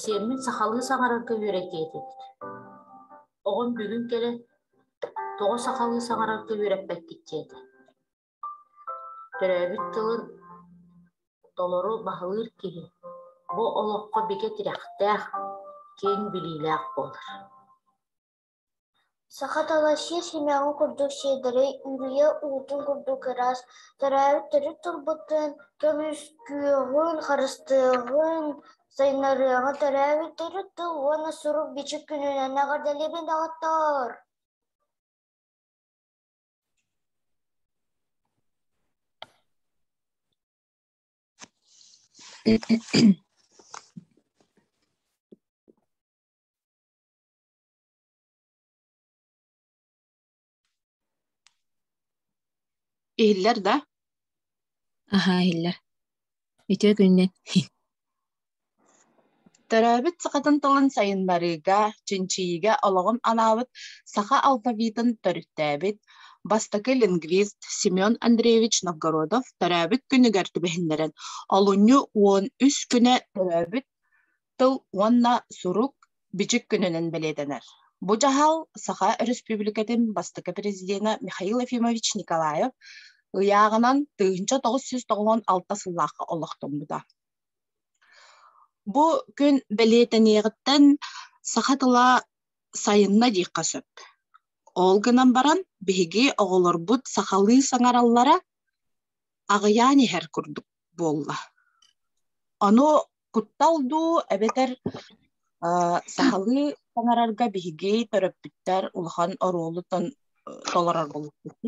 Сиэммин сахалыы саҥарарга үөрэтиэ этибит. Оҕом бүгүн кэлэ тоҕо сахалыы саҥарарга үөрэппэккит диэтэ. Төрөөбүт тылын толору баһылыыр киһи бу олоххо бигэ тирэхтээх, киэҥ билиилээх буолар. Сахаталассье симэҕин курдук сиэдэри үрүйэ уутун курдук ыраас, төрөөбүт төрүт тылбытын, көмүскүөҕүн, харыстыаҕын, сайыннарыаҕын төрөөбүт төрүт тыл уонна сурук-бичик күнүнэн эҕэрдэлиибин, доҕоттоор! Иһиллэр да? Аһаа, иһиллэр. Үтүө күннүн. Төрөөбүт сахатын тылын сайын барыыга, чинчийиигэ олоҕун анаабыт саха алфавитын төрүттээбит бастакы лингвист Семен Андреевич Новгородов төрөөбүт күнүгэр түбэһиннэрэн олунньу уон үс күнэ төрөөбүт тыл уонна сурук бичик күнүнэн бэлиэтэнэр. Бу дьаһал Саха Өрөспүүбүлүкэтин бастакы президенэ Михаил Ефимович Николаев ыйааҕынан тыһыынча тоҕус сүүс тоҕуон алта сыллаахха олохтоммута. Бу күн бэлиэтэниэҕиттэн саха тыла сайынна диэххэ сөп. Ол гынан баран биһиги оҕолорбут сахалыы саҥараллара аҕыйаан иһэр курдук. буолла. Ону куттал дуу эбэтэр сахалыы таҥарарга биһиги төрөппүттэр улахан оруолу толорор болуппут.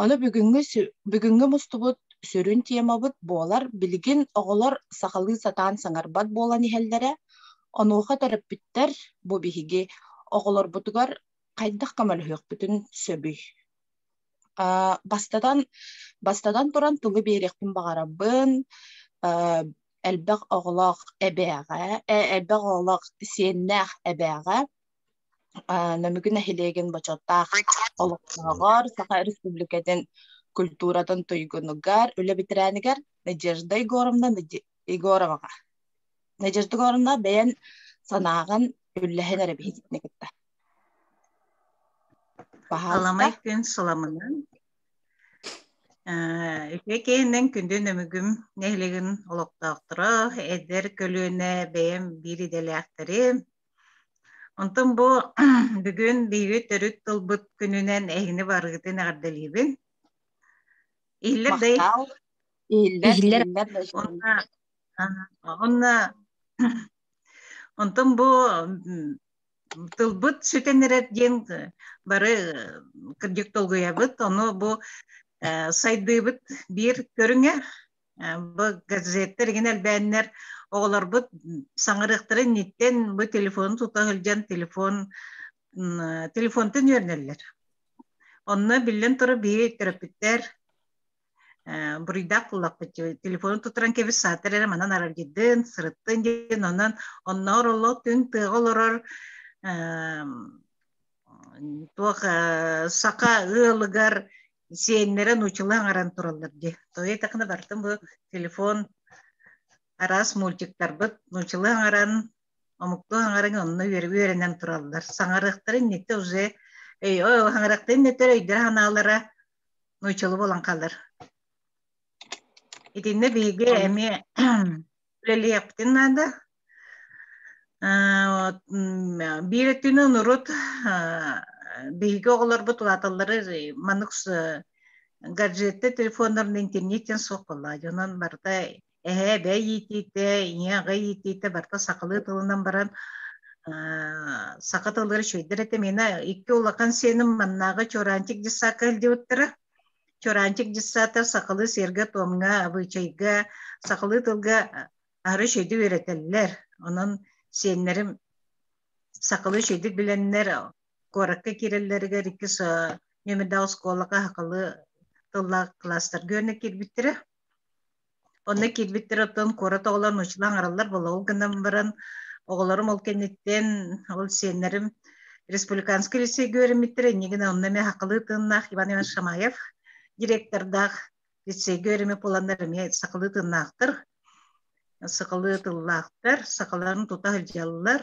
Ону бүгүҥҥү бүгүҥҥү мустубут сүрүн темабыт буолар билигин оҕолор сахалыы сатаан саҥарбат буолан иһэллэрэ. Онуоха төрөппүттэр бу биһиги оҕолорбутугар хайдах көмөлөһүөхпүтүн сөбүй? Бастатан, бастатан туран тугу биэриэхпин баҕарабын элбэх оҕолоох эбээҕэ, элбэх оҕолоох сиэннээх эбээҕэ Нөмүгү нэһилиэгин бочуоттаах олохтооҕор Саха Республикатын культуратын туйгунугар үлэ бэтэрээнигэр Надежда Егоровна Егороваҕа. Надежда Егоровна бэйэн санааҕын үллэһэн эрэ биһиттине кытта. Паһаалымай күн суламынан Үчүгэй киһиннэн күндүн өмүгүм нэһилигин олохтоохторо, эдэр көлүөнэ бэйэм биир идэлээхтэрим. Онтон бу бүгүн биири төрүт тылбыт күнүнэн эһини барыытын эҕэрдэлиибин. Иһиллэр дай. Иһиллэр Онна онна Онтон бу тылбыт сүтэн эрэр диэн бары кырдьык долгуйабыт ону бу сайдыыбыт биир көрүҥэ бу газеттер игин элбээннэр оҕолорбут саҥарыахтарын ниттэн бу телефонун тута сылдьан телефон телефонтан үөрнэллэр онно биллэн турар биһи төрөппүттэр буруйдаах буллахпыт телефонун тутуран кэбис саатар эрэ манан араргыдын сырыттын диэн онон онноор олох күн тыаҕа олорор туох саха ыалыгар сиэннэрэ нуучула аҥаран тураллар дии тойо такына бартым бу телефон араас мультиктарбыт нуучула аҥаран омукту аҥаран онно үөрэнэн тураллар саҥарыахтарын нетте уже өй хаҥарахтарын нетер өйдөрө ханаалара нууччалыы буолан хаалар. Итиннэ биһиги эмиэ үлэлиэхпитин наада. Биир өттүнэн урут биһиги оҕолорбут улааталлары маннык гаджетты телефоннорун интернеттен суох буолла. Онон барыта эһээ бэй иитиитэ ийэ аҕа иитиитэ барта сахалыы тылынан баран саха тылыгар швейдер этэ мина икки улахан сиэним маннааҕы чораанчик дьыссаакка илдиоттара чораанчик дьыссаата сахалыы сиэргэ туомҥа абыычайга сахалыы тылга ары швейди үөрэтэллэр онон сиэннэрим сахалыы швейдик билэннэр куоракка киирэллэригэр иккис нөмердээх оскуолаҕа сахалыы тыллаах класстарга үөрэнэ киирбиттэрэ Онно киирбиттэр оттон куорат оҕолор нууччалыы аҥараллар болоҕу гынан баран, оҕолорум ол кэнниттэн ол сиэннэрим республиканскай лицейгэ үөрэммиттэр иннигин онно эмиэ хакылыы тыыннаах Иван Иванович Шамаев директордаах лицейгэ үөрэммит буоланнар эмиэ сахалыы тыыннаахтар сахалыы тыллаахтар сахаларын тута сылдьаллар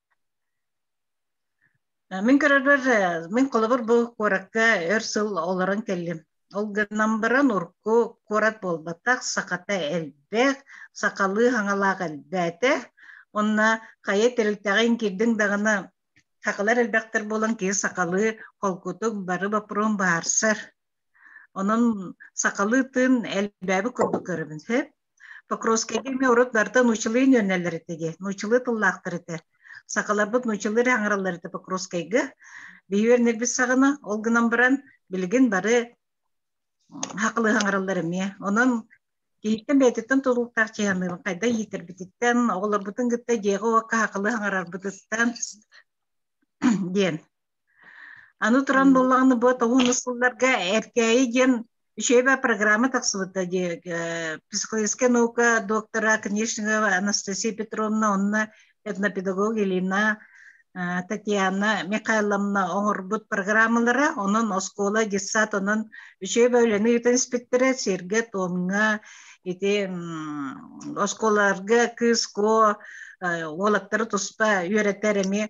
Мин көрөрөр, мин холобур бу куоракка өр сыл олорон кэллим. Ол гынан баран урку куорат буолбатах, сахата элбэх, сахалыы хаҥалаах элбээтэ. Онно хайа тэрилтэҕин кирдиҥ даҕаны сахалар элбэхтэр буолан киһи сахалыы холкутук бары боппурун баарсар. Онон сахалыы тыын элбээби курдук көрөбүн сөп. Покровскай эмиэ урут барыта нуучалыы нүөннэллэр этэ дии. Нуучалыы тыллаахтар этэ. Сакаларбыт нуучалыы аҥараллар этэ Покровскайга. Биһи үөрнэрбит саҕана ол гынан баран билигин бары хакылы аҥараллар эмиэ. Онон киһиттэн бэйэтиттэн тутулуктаах чыһаныыбын хайда иитэрбититтэн, оҕолорбутун кытта дьиэҕэ уокка хакылы аҥарарбытыттан диэн Аны туран боллааны бу тоһуну сылларга Эркээйи диэн учеба программа тахсыбыта дии психологическая наука доктора Конечникова Анастасия Петровна онно этнопедагог Елена Татьяна Михайловна оҥорбут программалара, онон оскуола детсад онон учеба үлэни ыытан испиттэрэ сиргэ, туомҥа, ити оскуолаларга кыыс куо уолаттары туспа үөрэтэр эми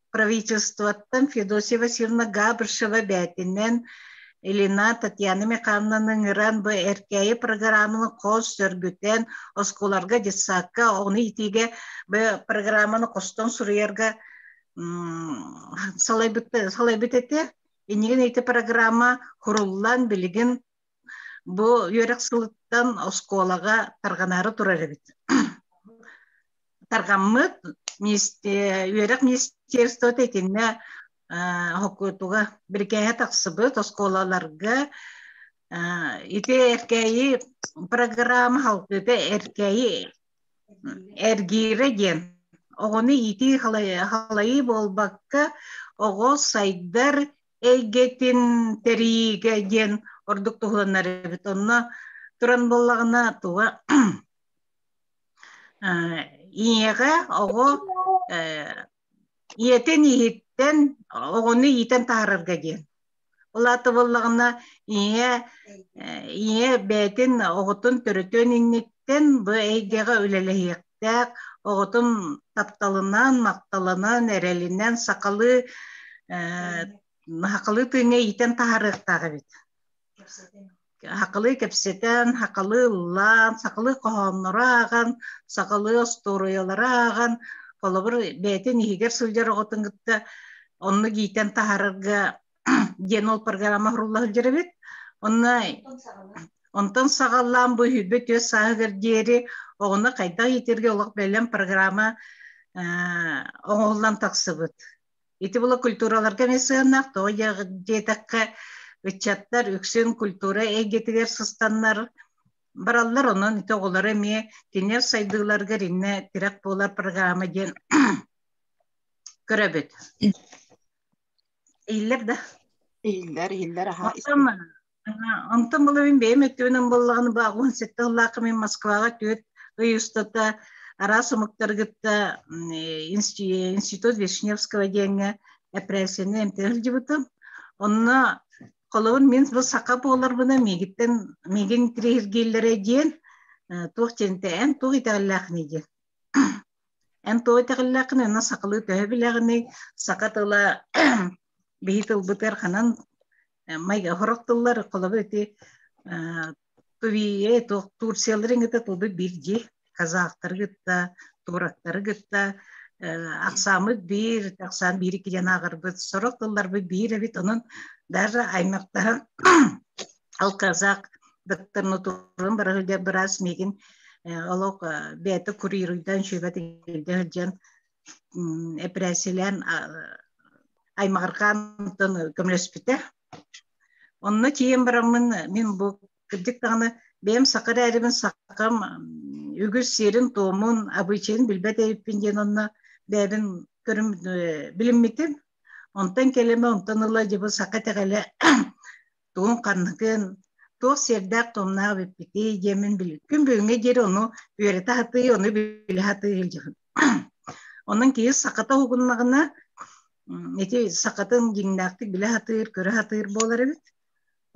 правительствоттан Федосия Васильевна Габышева бээтинэн Илина Татьяна Михайловнаны ыҥыран бу эркээйи программаны хос сөргүтэн оскуоларга детсадка ону итиигэ бу программаны хостон суруйарга салайбыт салайбыт этэ иннигин ити программа куруллан билигин Бу үөрэх сылыттан оскуолаҕа тарҕанаары турар эбит. Тарҕаммыт үөрэх министерствота итиннэ хоккутуга бирикээһэ тахсыбыт оскуолаларга ити эркээйи программа халкыта эркээйи эргиирэ диэн оҕону иитии халайыы буолбакка оҕо сайдар эйгэтин тэриигэ диэн ордук туһуланар эбит. Онно туран буоллаҕына туга ийэҕэ оҕо ийэтин иһиттэн оҕону иитэн таһаарарга диэн. Ол аата буоллаҕына ийэ ийэ бэйэтин оҕотун төрөтөн иннит бу эйгэҕэ үлэлэһиэхтээх, оҕотум тапталынан, махталынан, эрэлинэн сахалыы сахалыы тыыҥҥа иитэн таһаарыахтаах эбит. Хакылыы кэпсэтэн, хакылыы ыллаан, сахалыы хоһооннору ааҕан, сахалыы остуоруйалары ааҕан, холобур, бэйэтин иһигэр сылдьар оҕотун кытта оннук иитэн таһаарарга диэн ол программа құрулла сылдьар эбит онно онтон саҕалаан бу үйбэ түөс сааһыгар диэри оҕону хайдах иитэргэ олох бэлэм программа оҥоһуллан тахсыбыт ити була культураларга эмиэ сыанаах тоҕо диэтэххэ ыччаттар үксүн культура эйгэтигэр сыстаннар бараллар онон ити оҕолоро эмиэ кинилэр сайдыыларыгар иннэ тирэх буолар программа диэн көрөбүт иһиллэр да иһиллэр иһиллэр аһаа оттон онтон була мин бэйэм өттүбүнэн боллоҕун ба уон сэттэ ыллаахха мин москваҕа түөрт ый устата араас омуктаргытта институт вишневского диэҥҥэ эпрессияны эмтэнэ сылдьыбытым онно холобур мин бу саха буоларбына миигиттэн миигин триергииллэрэ диэн туох диэнтэй эн туох итэҕэллээхиний диэн Эн тоҕо итэҕиллэххин уонна сахалыы төһө билэҕиний? Саха тыла биһи тылбытыгар ханан майга хорох тыллар холобу ити тувие турцияларын кытта туду бирди казахтары кытта турактары кытта ахсаамыт биир ахсаан биир икки диэн ааҕарбыт сорох тылларбыт биир эбит онон даже аймақтаһан алказак дыттырны турун бара сылдьар быраас миигин олох бэйэтэ курьеруйдан шөбэтигирде сылдьан эпрессиялаан аймағырқаантан көмөлөспүтэ онно тиийэн бараммын мин бу кырдьык даҕаны бэйэм саха эрээбин сахам үгүс сиэрин туомун обычайын билбэт эбиппин диэн онно бэйэбин көрүм билиммитим онтон кэлимэ онтон ыла дьыбы саха тэҕэлэ тугун ханныгын, туох сиэрдээх-томнаах бүппүтүй диэмин биликкин бүгүҥҥэ диэри ону үөрэтэ сатыы, ону билэ сатыы илдьэҕин. Онон киһи сахата угуннаҕына, ити сахатын дьиҥнээхтик билэ сатыыр, көрө сатыыр буолар эбит.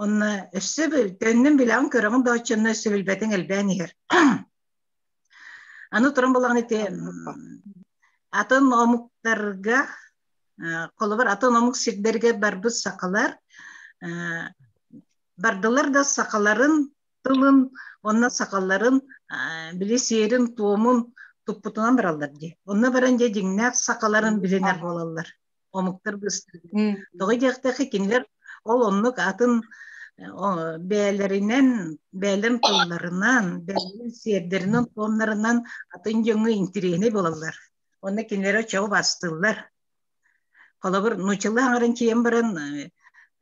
Онно өссө төннөн билэҕин көрөҕүн да оччонно өссө билбэтиҥ элбээн иһэр. Аны туран балаҕан ити атын омуктарга холобур атын омук сирдэргэ барбыт сахалар бардылар да сахаларын тылын онно сахаларын били сиэрин-туомун туппутунан бараллар дии онно баран дьэ дьиҥнээх сахаларын билинэр буолаллар омуктар быстыгын тоҕо диэхтэхи кинилэр ол оннук атын бээлэринэн бээлэн тылларынан бээлэн сиэрдэринэн туомнарынан атын дьоҥҥо интириэһинэй буолаллар онно кинилэр оччоҕо бастыыллар холобур нуччалыы аҥарын тиийэн баран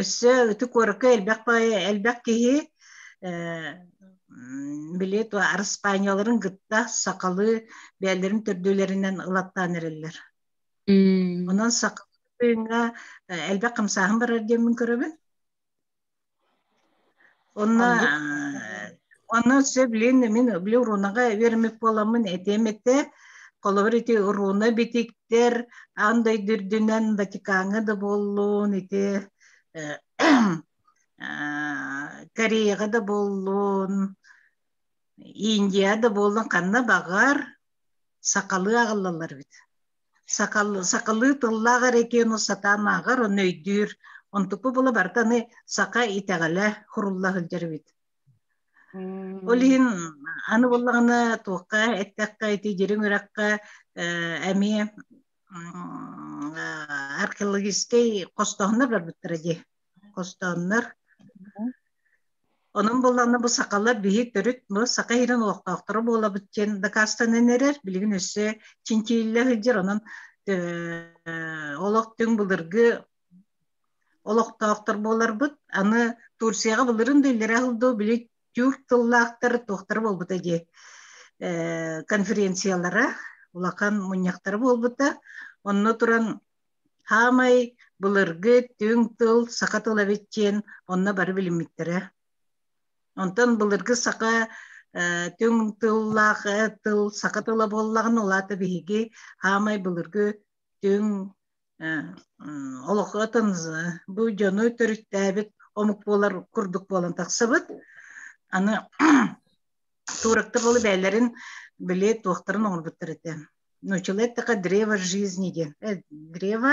Өссө ити куоракка элбэх элбэх киһи били араспаанньаларын кытта сахалыы бэйэлэрин төрдүлэринэн ылаттаан эрэллэр. Онон сахалыы элбэх хамсааһын барар диэммин көрөбүн. Онно онно сөп ленэ мин били урунаҕа вермик буоламмын этиэм этэ холобур ити уруна битиктер аан дойду үрдүнэн Ватикаҥҥа да буоллун ити Кореяҕа да буоллун Индия да буоллун ханна баҕар сахалыы аҕаллалар эбит сакал, сакалыы тыллаах эрекену сатаамааҕар он өйдүүр онтукпу була бартаны сака итэҕэлэ хурулла сылдьарбыт ол иһин аны буллаҕына туохха эттэххэ ити дириҥ үрэххэ эмиэ археологическай хостоһуннар барбыттара дии хостооннор. Онон буоллаҕына бу сакалар биһи төрүт бу сака иһирин олохтоохторо буолабыт диэн дакаастанан эрэр билигин өссө чинчииллэ сылдьар онон олох түҥ былыргы олохтоохтор буоларбыт аны Турцияҕа былырын да иллэрэ сылдуу били тюрк тыллаахтар туохтара буолбута дии конференциялара улахан мунньахтара буолбута онно туран Хаамай, былыргы түҥ тыл саха тыла эбит диэн онно бары билиммиттэрэ. Онтон былыргы саха түҥ тыллаах тыл саха тыла буоллаҕына улаата биһиги хаамай былыргы түҥ олохотын бу дьону төрүттээбит омук буолар курдук буолан тахсыбыт аны Тууракта болу бээллэрин били туохтарын оҥорбуттар этэ. Нучиле така древо жизни диэн. Э, древо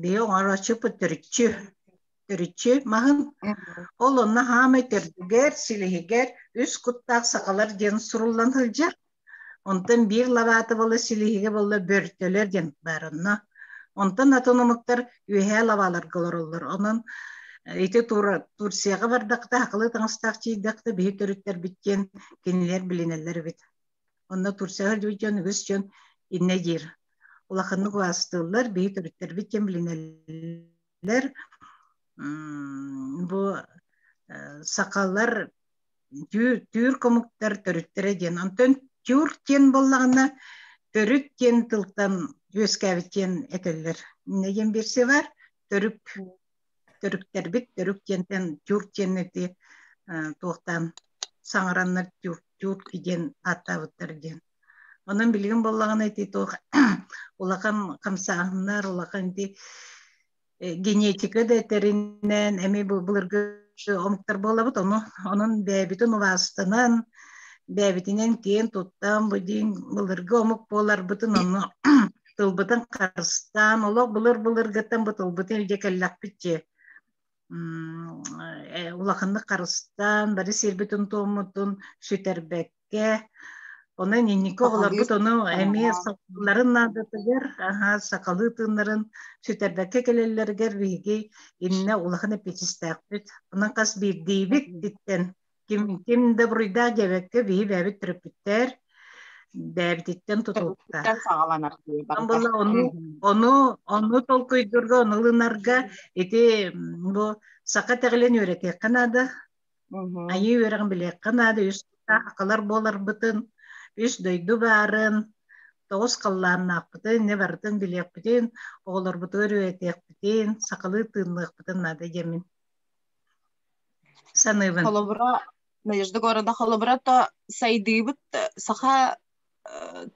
бии оҥорооччу төрүччү төрүччү маһын. Ол онно хаамай төрдүгэр, силиһигэр үс куттаах сахалар диэн суруллан сылдьар. Онтон биир лабаатыбалы силиһигэ болла бөртөлөр диэн баар онно. Онтон атын омуктар үөһээ лабааларга олороллор. Онон ити Турцияга бардакта, хакылы таҥастаах чийдакта биһи төрүттэрбит диэн кинилэр билинэллэр эбит. Онно Турцияга дьон үгүс дьон иннэ диир. Улаханнык убаастыыллар, биһи төрүттэрбит диэн билинэллэр бу сахалар түүр комуктар төрүттэрэ диэн онтон тюр диэн боллаҕына төрүт диэн тылтан үөскээбит диэн этэллэр нэдиэн берсе бар төрүк төрүктэрбит төрүк диэнтэн тюр диэн эти туохтаан саҥараннар тюрки диэн ааттаабыттар диэн Онон билигин боллагана ити туох улахан хамсааһыннар, улахан ити генетика да этэриннэн эми былыргы омуктар буолабыт ону онон бэйэбитин убаастанан бэйэбитинэн киэн туттан бу диин былыргы омук буоларбытын ону тылбытын харыстаан олох былыр былыргыттан бу тылбытын илдьэ кэллэхпит дии улаханнык харыстаан бары сирбитин туоммутун сүтэрбэт Онон инники оҕолорбут ону эмиэ сахаларын наадатыгар, сахалыы тыыннарын сүтэрбэккэ кэлэллэригэр биһиги иннэ улахан эппиэтистээхпит. Онон хас биирдиибит ититтэн ким ким да буруйдаах диэбэккэ биһи бэйэбит төрөппүттэр бэйэбититтэн тутулукта. Була ону ону ону толкуйдуурга, ону ылынарга ити бу саха тэҕилэн үөрэтиэххэ наада. Айыы үөрэҕин билиэххэ наада үс акылар буоларбытын, үс дойду баарын, тоҕус халлааннаахпытын, не барытын билиэхпитин, оҕолорбутугар үйэтиэхпитин, сахалыы тыынныахпытын наада диэмин. Саныыбын. Холобура, Надежда города холобура то сайдыыбыт саха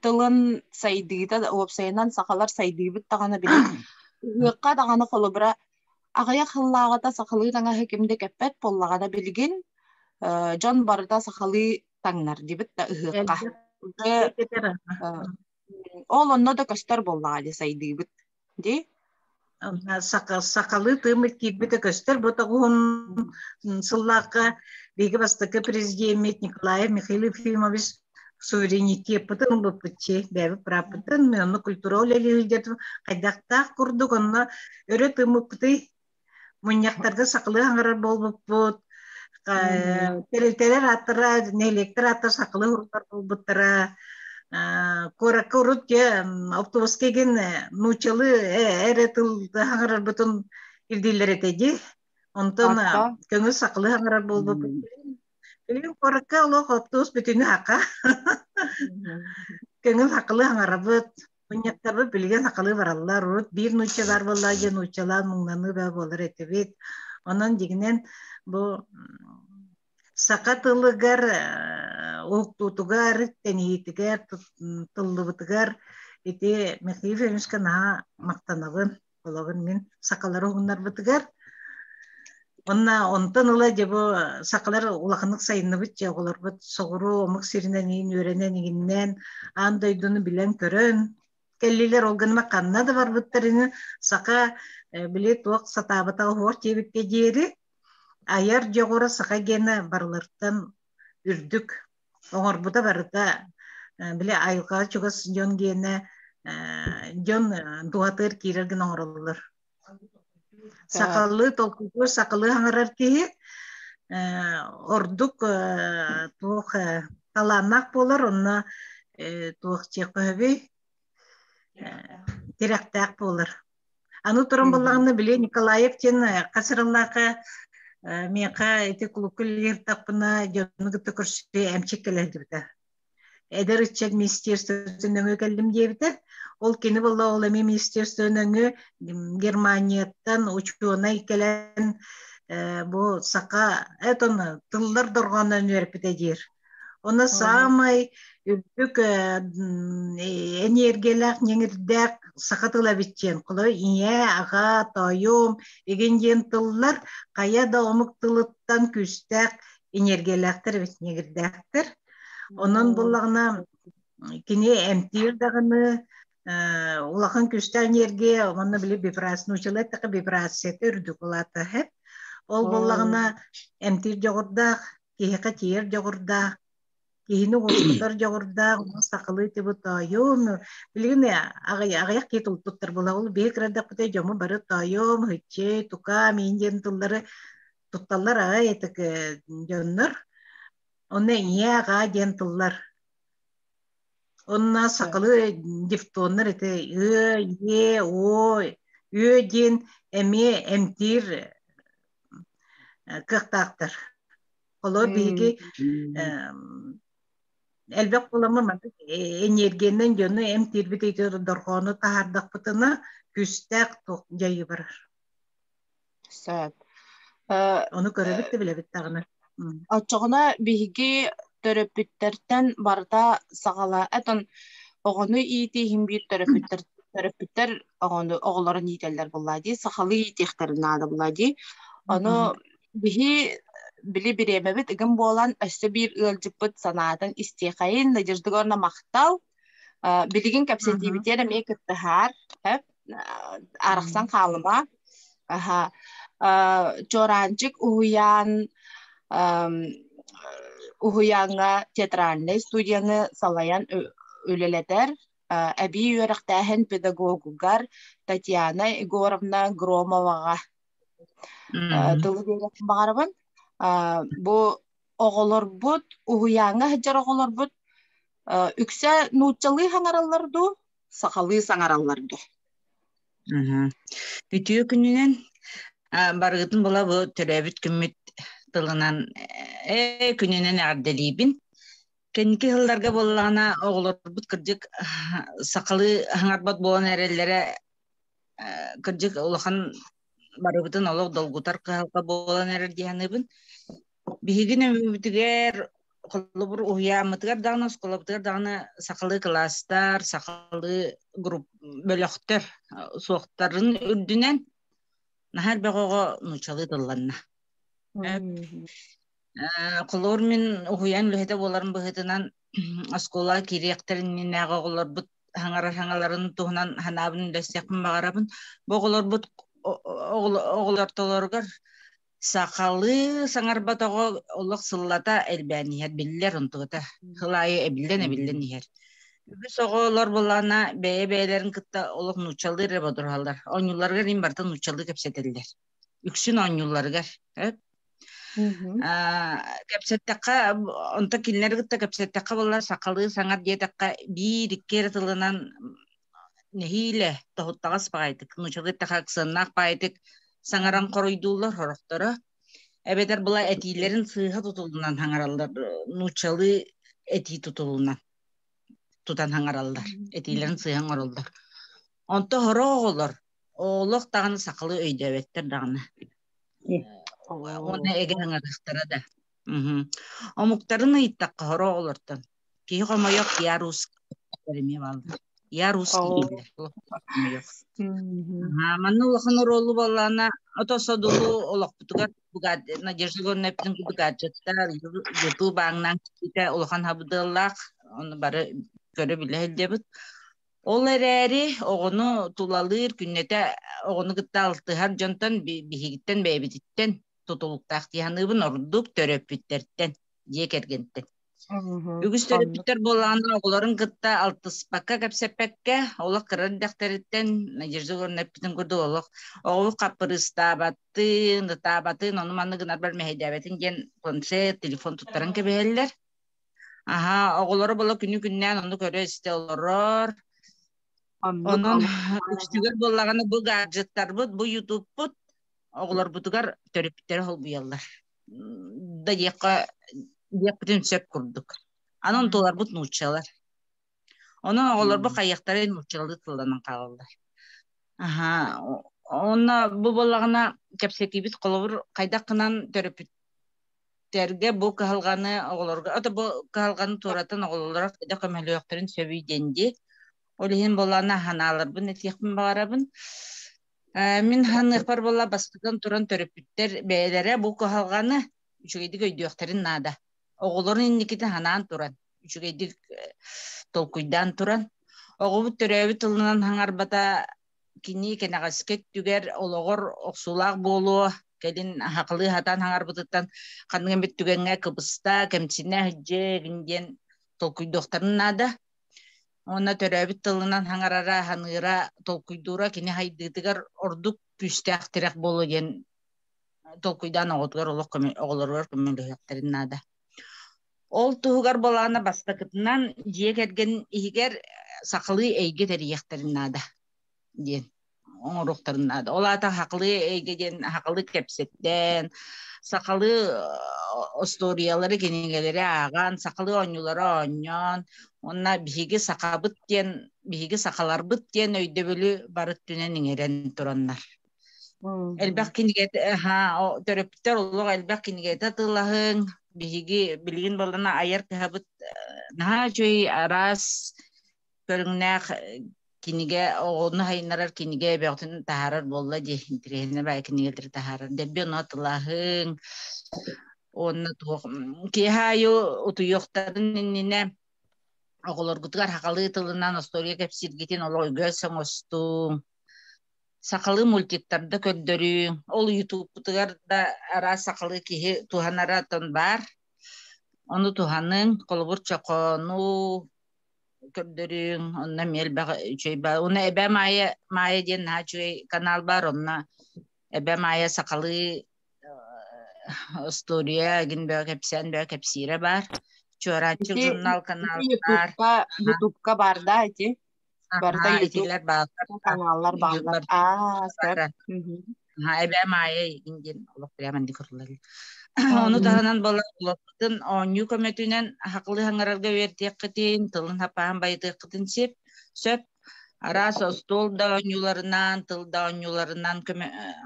тылын сайдыыта уопсайынан сахалар сайдыыбыт даҕаны били ыһыахха даҕаны холобура аҕыйах сыллааҕыта сахалыы таҥаһы ким да кэппэт буоллаҕа да билигин дьон барыта сахалыы таҥнар дибит да ыһыахха ол онно да көстөр буоллаҕа дии сайдыыбыт Ди сахалыы тыыммыт киирбитэ көстөр бу тоҕуһун сыллаахха биһиги бастакы президеммит Николай Михаил Ефимович суверенитетке пытын быппытчи бэби прапытын онно культура үлэлиһилдет хайдахтаах курдук онно өрө тымыппытый Мунньахтарга сахалыы хаҥырар буолбуппут, тэрилтэлэр ааттара, нэһилиэктэр ааттара сахалыы уруттар буолбуттара, куоракка урут автобуска игин нууччалыы эрэ тыл хаҥырарбытын ирдииллэр этэ ди. Онтон көҥүл сахалыы хаҥырар буолбуппут. Билигин куоракка олох автобус бүтүнү хака. Көҥүл сахалыы хаҥарабыт. Мунньахтарбыт билигин сахалыы бараллар. Урут биир нуучча баар буолла диэн нууччалаан муҥнаныы баа буолар этибит. Онон дигинэн бу саха тылыгар, уһуктуутугар, тэнийиитигэр, тыллыбытыгар ити Михаил Ильичка наһаа махтанабын. Олоҕун мин сакалары уһуннарбытыгар Онна онтон ыла дьэ бу сахалар улаханнык сайынныбыт дьэ оҕолорбут соҕуруу омук сиринэн иин үөрэнэн игиннээн аан дойдуну билэн-көрөн кэллилэр ол гыныма ханна да барбыттар ини саха били туох сатаабыта оһуор диэбиккэ диэри айар дьоҕура саха гена барылартан үрдүк оҥорбута барыта били айылҕаҕа чугас дьон гиэнэ дьон туһатыыр киирэр гына оҥороллор сахалыы толкуйдуур сахалыы хаҥарар киһи ордук туох талааннаах буолар онно туох чиэхпэһэбий тирэхтээх буолар Аны туран буллаҕына били Николаев диэн хасырыллаахха миэхэ ити кулукка үлэлииртахпына дьону кытта көрсүтүү эмчик кэлэрдибитэ. Эдэр ыччат министерствотын өҥө кэллим диэбитэ. Ол кини болла ол эми министерствотын өҥө Германияттан учуонай кэлэн бу саха этон тыллар дорҕооннон үөрпүтэ диир Уна саамай үрдүк эниэргиэлээх ньэҥирдээх саха тыла биччиэн коло ийэ аҕа тоойуом игин диэн тыллар хайа да омук тылыттан күүстээх эниэргиэлээхтэр эбит ньэҥирдээхтэр онон буллаҕына кини эмтиир даҕаны улахан күүстээх энергия манна били вибрация учила така вибрацията үрдүк улаата ол буллаҕына эмтиир дьоҕурдаах киһиэхэ тиийэр дьоҕурдаах, киһини уоскутар дьоҕурдаах, сахалыы тыбыт тоойуом, билигин аҕыйах киһи тулпуттар булабыл, биһи кырайдахпыта дьоmu бары тоойуом, хыччы, тука, миин диэн тыллары тутталлар аҕай этик дьоннор, онно ийэ аҕаа диэн тыллар. Онна сахалыы дифтоннар это ы, е, о, ү диэн эмиэ эмтиир кыахтаахтар. Холор биһиги элбэх буламы энергиянан дьону эмтиирбит дорхоону таһаардахпытына күстээх туох дьайы барар. Саад. Ону көрөбүт да билэбит даҕаны. Оччоҕуна биһиги төрөппүттэртэн барыта саҕала этон оҕону иитии иһин биир төрөппүттэр төрөппүттэр оҕону оҕолорун иитэллэр буоллаа дии, сахалыы иитиэхтэрин наада буоллаа дии. Ону биһи били бириэмэбит ыгым буолан өссө биир ыалдьыппыт санаатын истиэхэйин, надеждыга махтал. Билигин кэпсэтиибитигэр эмиэ кыттыһаар, арахсан хаалыма аха чораанчык уһуян уһуяҥҥа театральнай студияны салайан үлэлэтэр эбии үөрэхтээһин педагогугар татьяна егоровна громоваҕа тылы биэрэн баҕарабын бу оҕолорбут уһуяҥҥа сылдьар оҕолорбут үксэ нууччалыы хаҥараллар дуу сахалыы саҥараллар да. Үтүө күнүнэн барыытын була бу төрөөбүт күммүт тылынан ээ күнүнэн эҕэрдэлиибин. Кэнники сылларга буоллаҕына оҕолорбут кырдьык сахалыы хаҥарбат буолан эрэллэрэ кырдьык улахан барыбытын олох долгутар кыһалҕа буолан эрэр дии саныыбын. Биһигин өйүбүтүгэр холобур уһуйааммытыгар даҕаны, оскуолабытыгар даҕаны сахалыы кылаастар, сахалыы групп бөлөхтөр суохтарын үрдүнэн наһаа элбэх оҕо нууччалыы тылланна. Холор мин уһуйаан үлэһитэ буоларын быһытынан оскуола кириэхтэрин иннинээҕи оҕолорбут хаҥарар хаҥаларын туһунан ханаабын үлэстиэхпин баҕарабын. Бу оҕолорбут оҕолортолоругар Сахалыы саҥарбатоҕо олох сыллата элбээн иһэр, биллэр онтугута. Сыл аайы эбиллэн-эбиллэн иһэр. Үгүс оҕолор буоллаҕына бэйэ-бэйэлэрин кытта олох нууччалыы эрэ бодоруһаллар. Оонньуулларыгар иһин барыта нууччалыы кэпсэтэллэр. Үксүн оонньуулларыгар. Кэпсэттэххэ, онто кинилэри кытта кэпсэттэххэ буоллар сахалыы саҥар диэтэххэ биир-икки эрэ тылынан нэһиилэ тоһуттаҕас паайтык нучалы тахаксыаннаах паайтык саҥаран хоруйдууллар хорохторо эбэтэр была этиилэрин сыыһа тутулунан хаҥараллар нучалы этии тутулунан тутан хаҥараллар этиилэрин сыыһа оҥороллор онто хоро оҕолор олох даҕаны сахалы өйдөөбөттөр даҕаны уонна эгэ аҥарахтара да омуктарын ыйыттахха хоро оҕолортон Киһи хомойох я русский эмиэ бааллар. Я русский дииллэр. Хомойох. Манна улахан оруолу боллаана ото содулу олохпутугар Надежда Горнеппин гаджеттар YouTube аңнан китэ улахан хабыдыллаах оны бары көрө билэ хэлдебит. Ол эрэри оҕону тулалыыр күннэтэ оҕону кытта алтыһар дьонтон биһигиттэн бэйэбититтэн тутулуктаах диһаныыбын ордук төрөппүттэртэн дьиэ кэргэнтэн Үгүс төрөппүттэр буоллаҕына оҕолорун кытта алтыспакка, кэпсэппэккэ, олох кыра эрдэхтэриттэн Надежда Егоровна эппитин курдук олох оҕолор хаппырыыстаабаттыын, ытаабатын, ону манны гынар бар мэһэйдээбэтин диэн концерт, телефон туттаран кэбиһэллэр. Аха, оҕолоро бола күнү-күннээн ону көрө-истэ олорор. Онон үстүгэр буоллаҕына бу гаджеттарбыт, бу ютубпут оҕолорбутугар төрүттэрэ холбуйаллар. Да диэххэ диэхпитин сөп курдук. Анын туларбыт нууччалар. Онон оҕолорбут хайыахтара нууччалыы тылланан хаалаллар. Аха, онно бу боллагына кэпсэтиибит холобур хайдах кынан төрөпүттэрге бу кыһалганы оҕолорго ото бу кыһалганы туоратан оҕололоро да көмөлөөхтөрүн сөбүй дэнди ол иһин боллана ханааларбын этиэхпин баҕарабын Мин ханыахпар буолла бастатан туран төрөппүттэр бэйэлэрэ бу кыһалҕаны үчүгэйдик өйдүөхтэрин наада. Оҕолорун инникитин ханаан туран, үчүгэйдик толкуйдаан туран, оҕобут төрөөбүт тылынан хаҥарбата кини кэнэҕэски өттүгэр олоҕор охсуулаах буолуо, кэлин хакылыы хатаан хаҥарбытыттан ханнык эмит түгэҥҥэ кыбыста, кэмсинэ иһдьэ диэн толкуйдуохтарын наада. Уонна төрөөбүт тылынан хаҥарара, ханыыра, толкуйдуура кини хайдыытыгар ордук күүстээх тирэх буолуо диэн толкуйдаан оҕотугар олох оҕолоругар көмөлөһүөхтэрин наада. Ол туһугар болаана бастакытынан дьиэ кэргэн иһигэр сахалыы эйгэ тэрийиэхтэрин наада диэн оҥоруохтарын наада. Ол аата хакылы эйгэ диэн хакылы кэпсэттэн, сахалы остуоруйалары кинигэлэри ааҕан, сахалы оонньуулары оонньоон, уонна биһиги сахабыт диэн, биһиги сахаларбыт диэн өйдөбүлү бары өттүнэн иҥэрэн тураннар. Элбэх кинигэтэ, аха, төрөптөр олох элбэх кинигэтэ тылаһыҥ, биһиги билигин боллана айар кыһабыт наһаа үчүгэй араас көрүҥнээх кинигэ оҕону сайыннарар кинигэ эбэҕитин таһаарар буолла дии интириэһинэ бай кинигэлэри таһаарар дэлби онно атылаһыҥ онно туох киэһэ аайы утуйуохтарын иннинэ оҕолоргутугар сахалыы тылынан остуоруйа кэпсииргитин олох үгөөс оҥостуҥ сахалыы мультиктарда көрдөрүүҥ ол ютубкутугар да араас сахалыы киһи туһанара оттон баар ону туһаныҥ холобур чохоону көрдөрүҥ, онно эмиэ элбэх үчүгэй баар. Уна эбэ Майя Майя диэн наһаа үчүгэй канал бар, онно эбэ Майя сахалыы устуоруйа гин бөө кэпсээн бөө кэпсиирэ бар. Чуораанчык журнал каналлар. Ютубка бар да эти. Барда YouTube каналлар бааллар. Аа, Haa, эбээм аайы игин диэн олох прямо инде кырылар. Ону таһынан бала олохпутун оонньуу көмөтүнэн ахакылы хаңгарарга үертиэккитин, тылын хапаан байытыаккытын сеп, сөп араас остуол да оонньууларынан, тыл да оонньууларынан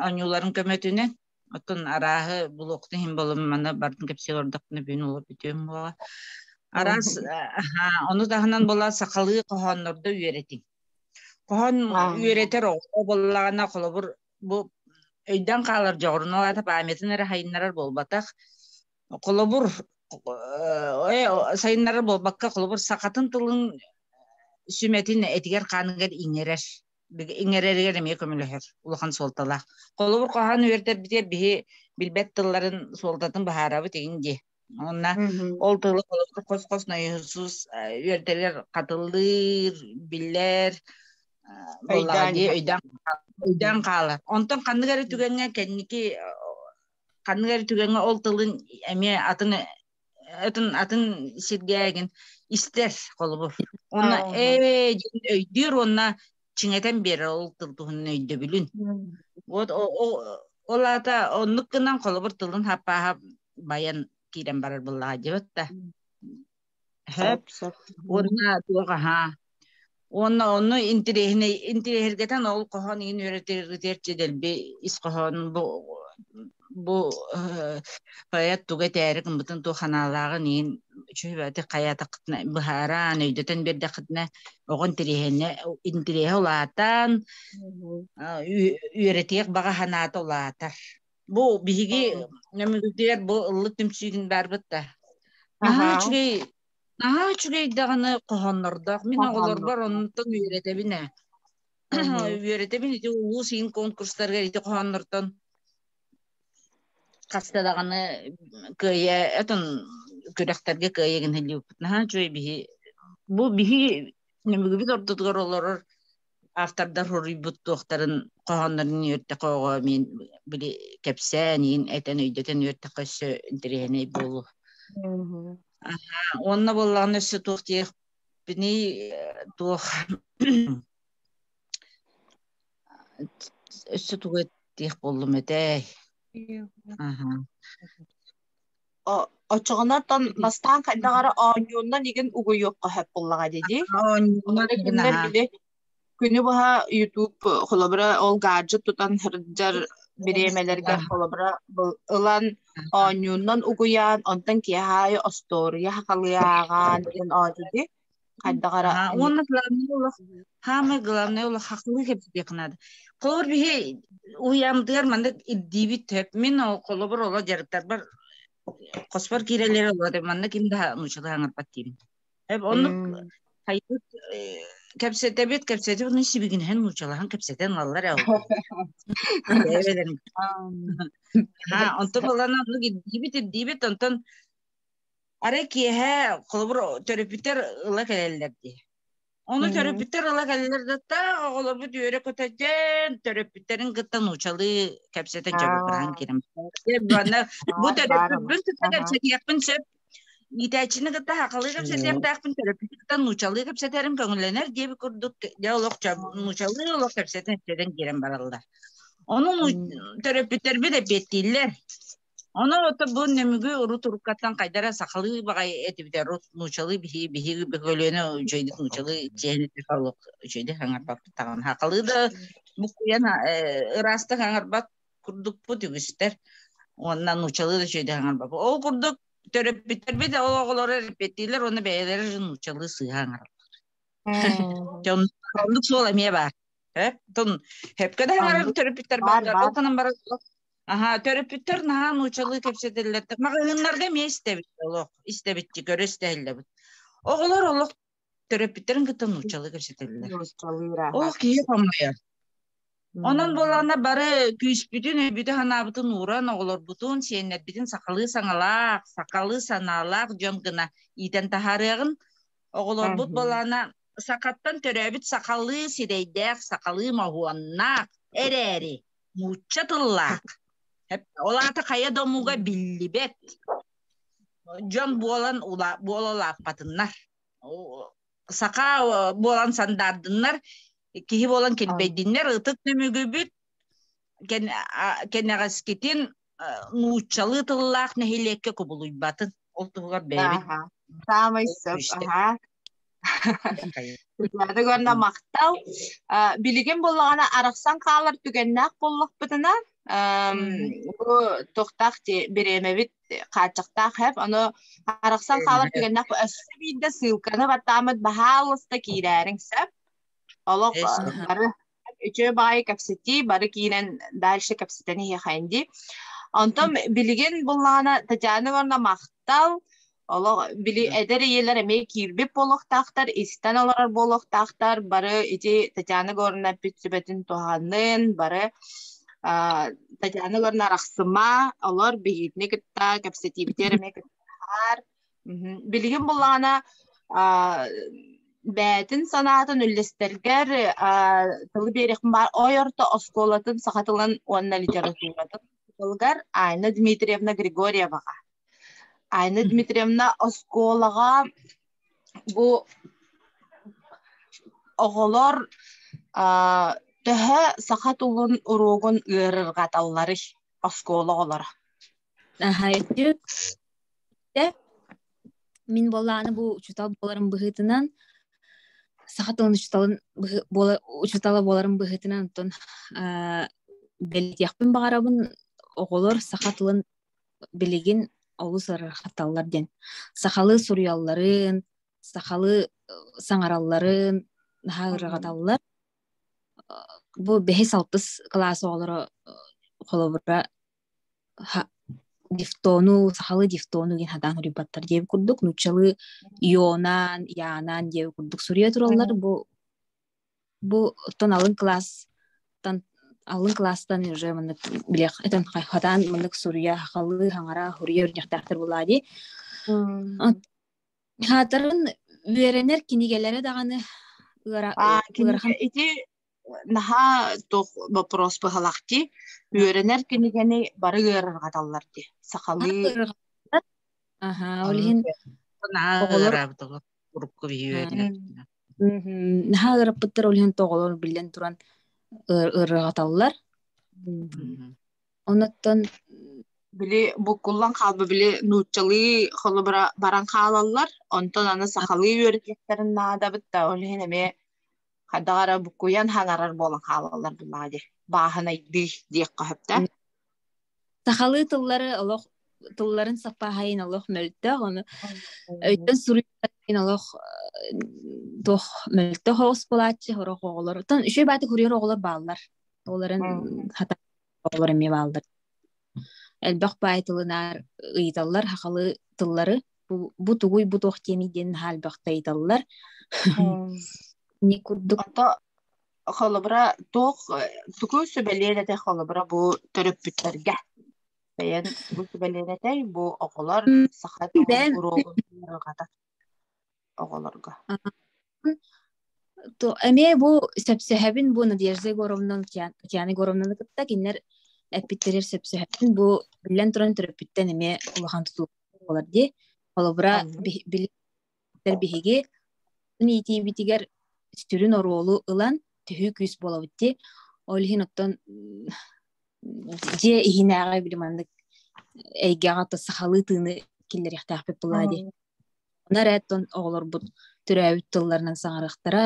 оонньууларын көмөтүнэн оттон арааһы булуохтун иһин болумманы бардын кэпсиэ ордохпуна бүгүн олор бүтүөн буола араас ону таһынан бола сахалыы хоһооннорду үөрэтиҥ Хоһон үөрэтэр оҕо буоллаҕына, холобур, бу өйдөөн хаалар дьоҕурналаата памятын эрэ сайыннарар буолбатах. Холобур, сайыннарар буолбакка, холобур, сахатын тылын сүмэтин этигэр-хааныгар иҥэрэр. Иҥэрэригэр эмиэ көмөлөһөр улахан суолталаах. Холобур, хоһоон үөрэтэрбитигэр биһи билбэт тылларын суолтатын быһаарабыт игин дии. Онна ол тылы холостук хос-хос нойосус үөрдэлэр хатыллыыр, биллэр, өйдөөн хаалар. Онтон ханнык эрэ түгэҥҥэ кэнники ханнык эрэ түгэҥҥэ ол тылын эмиэ атын атын атын сиргэ истэр холобур. Онно ээ өйдүүр уонна чиҥэтэн биэрэр ол тыл туһунан өйдөбүлүн. Вот ол аата оннук гынан холобур тылын хаппааһа байан киирэн барар быллаха дьыбыт да. Хөп, уонна туох аха. Уонна онну интириэһинэй интириэһиргэтэн ол хоһоон иин үөрэтэр дэлби ис хоһоон бу бу поэт туга этээри гыммытын туох ханаалааҕын иһин үчүһүбэти хайаатахытына быһааран өйдөтөн биэрдэххитинэ оҕон интириэһинэ интириэһэ улаатан үөрэтиэх баҕа санаата улаатар бу биһиги нөмүгүтүгэр бу ыллыт түмсүүгүн барбыт да наһаа үчүгэй наһаа үчүгэй даҕаны хоһооннордоох мин оҕолорбор онтон үөрэтэбин ээ Угу. Үөрэтебин ити улуус иин конкурстарга ити хоһооннортон хаста даҕаны кыайа этон күрэхтэргэ кыайа гын һэллибиппит наһаа үчүгэй биһи бу биһи нөмүгүбүт ортотугар олорор автордар хоруйбут туохтарын хоһооннорун үөртэхоҕо мин били кэпсээн иин этэн өйдөтөн үөртэххэ өссө интэриэһинэй буолу уонна боллаҕына өссө туох диэх Бини туох өссө тугу диэх боллум этэй? Очоҕонартан Настаан хайдаҕара оонньууннан игин угуйуохха сөп буллаҕа дии. Оонньууннан били Күнү быһа YouTube холобура ол гаджет тутан сылдьар бириэмэлэргэ холобура ылан оонньууннан угуйаан, онтон киэһээ остуоруйа хахалыы ааҕаан диэн оонньуу хайдах эрэ А уонна главный улах хаамай главный улах хахылыы кэпсэтиэх наада. Холобур биһи уйамдыар маннык ирдиибит төп. Мин ол холобур оло дьарыктарбар хоспор киирэлэри оло манна ким да нуччалыы хаңарпат диибин. Оннук хайбыт кэпсэтэбит кэпсэтип ну сибигинһен нуучалахан кэпсэтен аллар эбелен ha онтон балана ну дибит дибит онтон аре киэһэ холобур төрөпүттэр ыла кэлэллэр дии Оны төрөпүттэр ыла кэллэр датта олобут үөрө көтөден төрөпүттэрин кытта нуучалы кэпсэтен чөгүргүрән керем. Бу төрөпүппүн тутта кэпсэтиэхпин сөп Иитээччини кытта хахалыы кэпсэтиэхтээхпин, терапевтан нуучалыы кэпсэтэрим көҥүллэнэр диэби курдук дьэ олох нуучалыы олох кэпсэтэн кэпсэтэн киирэн бараллар. Ону терапевтербит эппиэттииллэр. Ону ото бу нөмүгү урут уруккаттан хайдара сахалыы баҕай этибитэ рут нуучалыы биһиги биһиги бөкөлүөнэ үчөйдүк нуучалыы чиэһини тыха олох үчөйдүк аңарбаппыт таҕан хахалыы да букуйан ыраастык аңарбат курдукпут үгүстэр уонна нуучалыы да сүөдэҕэҥэр бапа ол курдук төрөппүттэрбит ол оҕолоро эппиэттиилэр уонна бэйэлэрэ нуучалыы сыыһа аҥараллар оннук суол эмиэ баар сөпкө да аҥарар төрөппүттэр бааллар ол гынан баран аха төрөппүттэр наһаа нуучалыы кэпсэтэллэр маҕаһыыннарга эмиэ истэбит олох истэбитти көрө истэһиллэбит оҕолор олох төрөппүттэрин кытта нууччалыы кэпсэтэллэр ол киһи хомойор онон буоллаҕына бары күүспүтүн өйбүтүн-санаабытын ууран оҕолорбутун сиэннэрбитин сахалыы саҥалаах сахалыы санаалаах дьон гына иитэн таһаарыаҕын оҕолорбут буоллаҕына сахаттан төрөөбүт сахалыы сирэйдээх сахалыы моһуоннаах эрээри нуучча тыллаах ол аата хайа да омуга биллибэт дьон буолан ула, буола улааппатыннар саха буолан сандаардыннар киһи буолан килбэйдиннэр ытык түмүгүбүт кэнэҕэскитин нууччалыы тыллаах нэһилиэккэ кубулуйбатын ол туһугар бэйэбит саамай сөп аха Күрдөөдөг онно махтал. Билигин буллаҕына арахсан хаалар түгэннээх боллохпутуна бу тохтаах бириэмэбит хааччахтаах хэп ону арахсан хаалар түгэннээх өссө биирдэ ссылканы баттааммыт баһаалыста киирээриҥ сөп олох бары үчүгэй баҕайы кэпсэтии бары киирэн дальше кэпсэтэн иһиэхэйин дии онтон билигин буллаҕына татьяна ивановна махтал олох били эдэр ийэлэр эмиэ киирбит буолуохтаахтар истэн олорор буолуохтаахтар бары ити татьяна егоровна эппит сүбэтин туһаннын бары татьяна егоровна арахсыма олор биһигини кытта кэпсэтиибитигэр эмиэ кытта Билигин буллаҕына бээтин санаатын үллэстэргэр тылы биэриэхпин баар ойорто оскуолатын саха тылын уонна литературатын тылыгар Айна Дмитриевна Григорьеваҕа. Айна Дмитриевна оскуолаҕа бу оҕолор төһө саха тылын уруогун ыарырҕаталларый оскуола оҕолоро? Аһайдык Мин буоллааны бу учутал буоларым быһыытынан саха тылын учуталын учутала буоларым быһыытынан оттон бэлитиэхпин баҕарабын оҕолор саха тылын билигин олус арархаталлар диэн сахалыы суруйалларын сахалыы саҥаралларын наһаа ырҕаталлар бу бэһис алтыс кылаас оҕолоро холобура дифтону, сахалы дифтону диэн хатаан суруйбаттар диэби курдук, нуччалы Йонаан, Янаан диэби курдук суруйа тураллар. Бу бу оттон алын класстан алын класстан уже маннык билэх этен хатаан маннык суруя халы хаңара хуруя үрдяхтаахтар була ди хаатарын үөрэнэр кинигэлэрэ даҕаны ыарахан ити наһаа туох боппуруос быһалах дии үөрэнэр кинигэни бары ыарырҕаталлар дии сахалыы аха ол иһин араабыт урукку биһи наһаа ыараппыттар ол иһин тоҕолор биллэн туран ыарырҕаталлар онуттан били буккуллан хаалба били нууччалыы холобура баран хаалаллар онтон аны сахалыы үөрэтиэхтэрин наадабыт да ол иһин эмиэ хайдах эрэ буккуйан хаҥарар буолан хаалаллар буоллаҕа дии бааһынайдыы диэххэ сөптөөх сахалыы тыллары олох тылларын саппааһайын олох мөлтөх ону өйтөн суруйарын олох туох мөлтөх оҕус булааччы орох оҕолор оттон үчүгэй бааты курьер оҕолор бааллар оларын хата Олор эмиэ бааллар. Элбэх баай тылынаар ыйыталлар хахалы тыллары бу, бу тугуй бу туох тиэмий диэн наһаа элбэхтэ ыйыталлар. Ник курдук холобура туох тугу сүбэлиэн этэй холобура бу төрөппүттэргэ бэйэн бу сүбэлиэн этэй бу оҕолор саха тылын уруогун оҕолорго то эмиэ бу сөпсөһөбүн бу Надежда Егоровнан Татьяна Егоровнаны кытта кинилэр эппиттэрэр сөпсөһөбүн бу биллэн туран төрөппүттэн эмиэ улахан тутуу буолар дии холобура билэр биһиги иитиибитигэр сүрүн оруолу ылан түһүү күүс буолабыт дии ол иһин оттон дьиэ иһинээҕи били маннык эйгэҕэ то сахалыы тыыны киллэриэхтээхпит буолаа дии оны эрэ оттон оҕолорбут төрөөбүт тылларынан саҥарыахтара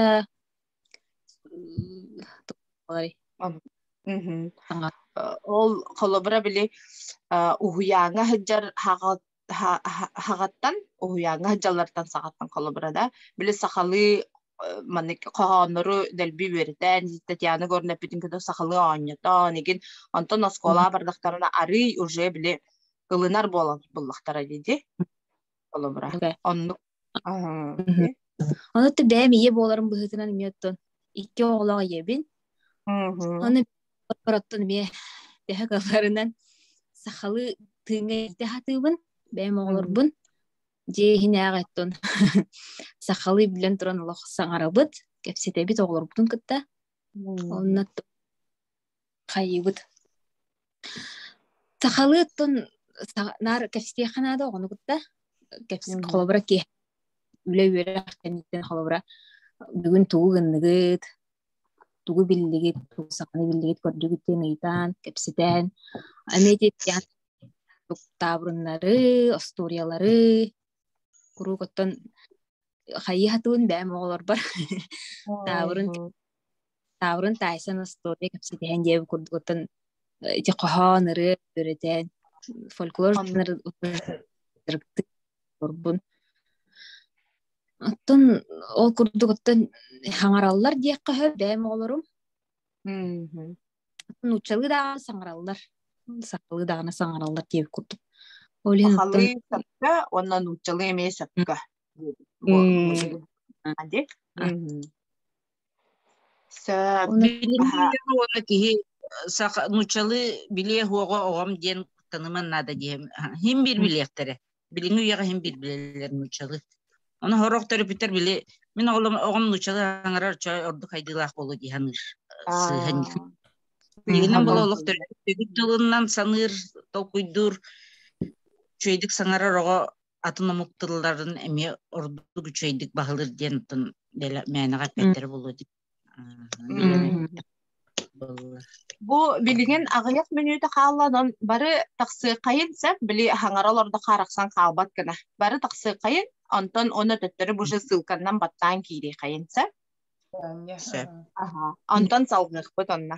ол холобура били уһуйааҥҥа сылдьар хаҕаттан уһуйааҥҥа дьаллартан саҕаттан холобура да били сахалыы маннык хоһооннору дэлби үөрэтэн Татьяна Горна эппитин кытта сахалыы оонньотон игин онтон оскуолаҕа бардахтарына арыый уже били ылынар буолан буллахтара дии холобура оннук Ону бэйэм ийэ буоларым быһыытынан эмиэ оттон икки оҕолоох ийэбин. Ону ороттон эмиэ тэһэ кыларынан сахалыы тыыҥҥа илтэ хатыыбын. Бэйэм оҕолорбун дьиэ иһинээҕи оттон сахалыы билэн туран олох саҥарабыт, кэпсэтэбит оҕолорбутун кытта. Онно хайыбыт сахалыы оттон наар кэпсиэхэ наада оҕону кытта кэпсии холобура ки үлэ үөрэх кэнниттэн холобура бүгүн тугу гынныгыт тугу биллигит тугу саханы биллигит көрдүгүт диэн ыйытаан кэпсэтэн аны этиэттиэн таабырыннары остуориялары куруук оттон хайыһа туун бэм оҕолорбор таабырын таабырын таайсан остуоруйа кэпсэтиһэн диэбит курдугуттан ити хоһоон ырыа үөрэтэн фольклор орбун оттон ол курдук оттон хаҥараллар диэххэ бэм оҕолорум нууччалыы даҕаны саҥараллар сахалыы даҕаны саҥараллар диэбит курдук сахалыы сакка уонна нууччалыы эмиэ сакка уонна киһи нууччалыы билиэ оҕом диэн таныман наада диэм хим бир билиэхтэрэ билиҥҥи үйэҕэ иһин билбилэр нууччалы. Оны хороох төрөпүттэр били мин оҕолом оҕом нууччалы аҥарар чой ордук айдылаах болу дии саныыр сыһан Игинен бұл олық төрөппүт дылынан саныр, толкуйдур, чөйдік саңарар оға атын омук тылларын эме ордук үчөйдік бағылыр диен оттон мәнеға пәттері болу Булла. Бу билигин аҕыйах мүнүүтэ хаалланон бары тахсыаххайын сөп били хаҥара олордо харахсан хаалбат гына бары тахсыаххайын онтон ону төттөрү бу же ссылканнан баттаан киириэххайын сөп Сөп. аха онтон салҕыахпыт онно